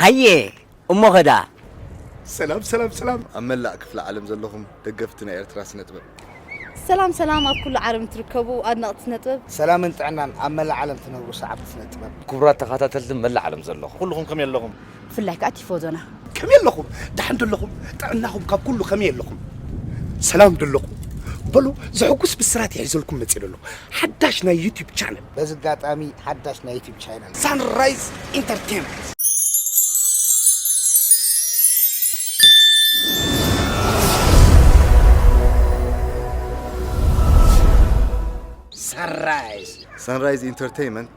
ሃየ እሞ ኸዳ ሰላም ሰላም ሰላም ኣብ መላእ ክፍለ ዓለም ዘለኹም ደገፍቲ ናይ ኤርትራ ስነ ጥበብ ሰላም ሰላም ኣብ ኩሉ ዓለም ትርከቡ ኣድነቕቲ ስነ ጥበብ ሰላምን ጥዕናን ኣብ መላእ ዓለም ትነብሩ ሰዓብቲ ስነ ጥበብ ክቡራት ተኸታተልቲ መላእ ዓለም ዘለኹም ኩልኹም ከመይ ኣለኹም ብፍላይ ከኣ ቲፎዞና። ከመይ ኣለኹም ደሓን ዶ ኣለኹም ጥዕናኹም ካብ ኩሉ ከመይ ኣለኹም ሰላም ዶ ኣለኹም በሉ ዘሕጉስ ብስራት ይሒዘልኩም መጺለ ኣለኹ ሓዳሽ ናይ ዩቲብ ቻነል በዚ ኣጋጣሚ ሓዳሽ ናይ ዩቲብ ቻነል ሳንራይዝ ኢንተርቴመንት ሳንራይዝ ሳንራይዝ ኢንተርቴመንት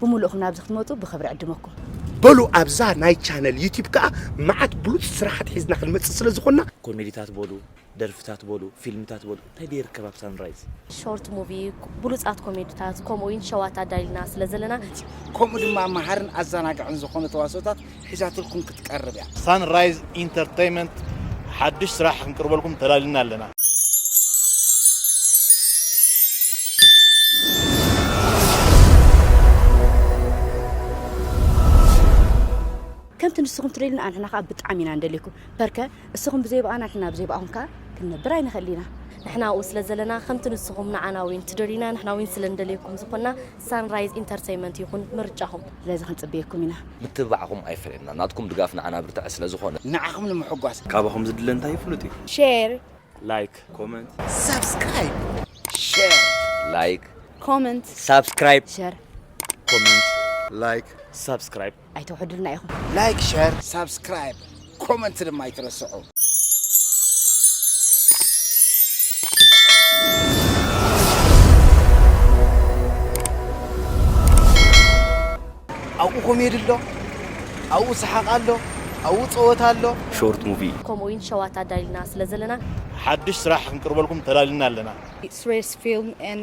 ብሙሉእኹም ናብዚ ክትመጹ ብኽብሪ ዕድመኩም። በሉ ኣብዛ ናይ ቻነል ዩቲብ ከኣ መዓት ብሉጽ ስራሓት ሒዝና ክንመጽእ ስለ ዝኾንና። ኮሜዲታት በሉ ደርፍታት በሉ ፊልምታት በሉ እንታይ ድየ ይርከብ ኣብ ሳንራይዝ። ሾርት ሙቪ ብሉጻት ኮሜዲታት ከምኡ ዊን ሸዋት ኣዳሊና ስለ ዘለና። ከምኡ ድማ መሃርን ኣዛናጋዕን ዝኾኑ ተዋስኦታት ሒዛትልኩም ክትቀርብ እያ። ሳን ራይዝ ኢንተርተይመንት ሓድሽ ስራሕ ክንቅርበልኩም ተላሊና ኣለና። ከምቲ ንስኹም ትደልዩና ኣንሕና ከዓ ብጣዕሚ ኢና ንደልየኩም ፐርከ እስኹም ብዘይ ብኣና ንሕና ብዘይ ብኣኹም ከዓ ክንነብር ኣይንኽእል ኢና ንሕና ኣብኡ ስለ ዘለና ከምቲ ንስኹም ንዓና ዊን ትደልዩና ንሕና ዊን ስለ ንደልየኩም ዝኾንና ሳንራይዝ ኢንተርተይመንት ይኹን ምርጫኹም። ስለዚ ክንጽበየኩም ኢና። ምትብባዕኹም ኣይፈለየና ናትኩም ድጋፍ ንዓና ብርታዐ ስለ ዝኾነ። ንዓኹም ንምሕጓስ። ካባኹም ዝድለ እንታይ እዩ ፍሉጥ እዩ። ሼር። ላይክ። ኮመንት። ሳብስክራይብ። ሼር። ላይክ። ኮመንት። ሳብስክራይብ። ሼር። ኮመንት። ላይክ። ሳብስክራይብ። ኣይተውሕዱልና ኢኹም። ላይክ ሸር ሳብስክራይብ ኮመንት ድማ ኣይትረስዑ። ኣብኡ ኮሜዲ ኣሎ፣ ኣብኡ ሰሓቕ ኣሎ፣ ኣብኡ ፀወታ ኣሎ። ሾርት ሙቪ ከምኡ እውን ሸዋት ኣዳሊና ስለ ዘለና ሓድሽ ስራሕ ክንቅርበልኩም ተዳሊና ኣለና። ስሬስ ፊልም ን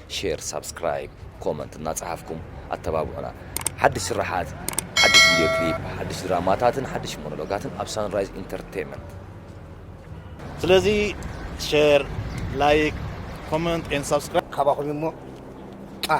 ሼር ሳብስክራይብ ኮመንት እናጸሓፍኩም ኣተባብዑና ሓድሽ ስርሓት ሓድሽ ቪድዮ ክሊፕ ሓድሽ ድራማታትን ሓድሽ ሞኖሎጋትን ኣብ ሳንራይዝ ኢንተርቴይመንት ስለዚ ሼር ላይክ ኮመንት ኤን ሳብስክራይብ ካባኹም እዩ እሞ ቃ